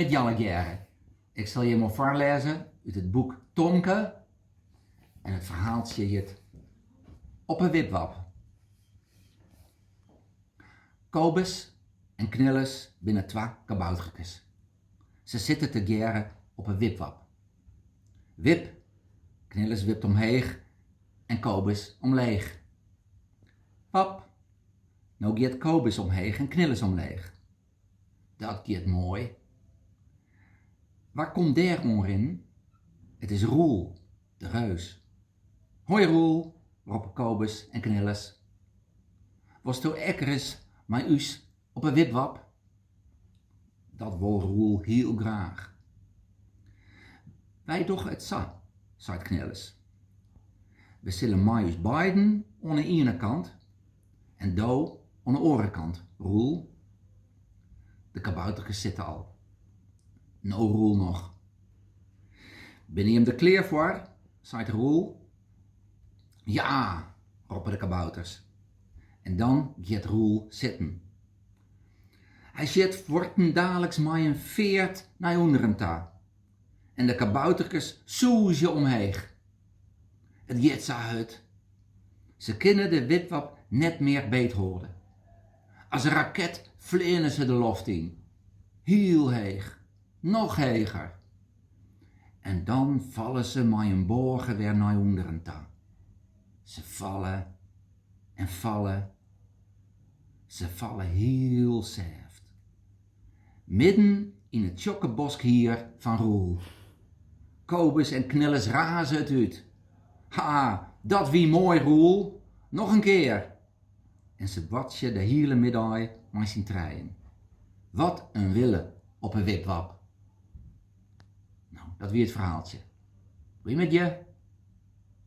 Middei allegearre. Ik sil jimme foarlêze út it boek Tomke en it ferhaaltsje hjit Op 'e Wipwap. Kobus en Knillis binne twa kabouterkes. Se sitte tegearre op 'e wipwap. Wip! Knillis wipt omheech en Kobus omleech. Wap! No giet Kobus omheech en Knillis omleech. Dat giet moai. Wa komt dêr oan rinnen? It is Roel, de reus. Hoi Roel, roppe Kobus en Knillis. Wolsto ek ris mei ús op 'e wipwap? Dat wol Roel hiel graach. Wy dogge it sa, seit Knillis. We sille mei ús beiden oan 'e iene kant En do oan 'e oare kant, Roel, de kabouterkes sitte al. No Roel noch. Binne jim der klear foar? seit Roel. Ja! roppe de kabouters. En dan giet Roel sitten. Hy sjit fuortendaliks mei in feart nei ûnderen ta. en de kabouterkes sûzje omheech. It giet sa hurd. Se kinne de wipwap net mear beethâlde. As in raket fleane se de loft yn. Hiel heech. Noch heger. En dan falle se mei in boage wer nei ûnderen ta. Se falle en falle. Se falle hiel sêft. Midden yn it tsjokke boskhier fan Roel. Kobus en Knillis raze it út. Ha, dat wie moai, Roel! Noch in kear! En se boartsje de hiele middei mei syn trijen. Wat in wille op 'e wipwap! Nou, dat wie it ferhaaltsje. Goeiemiddei!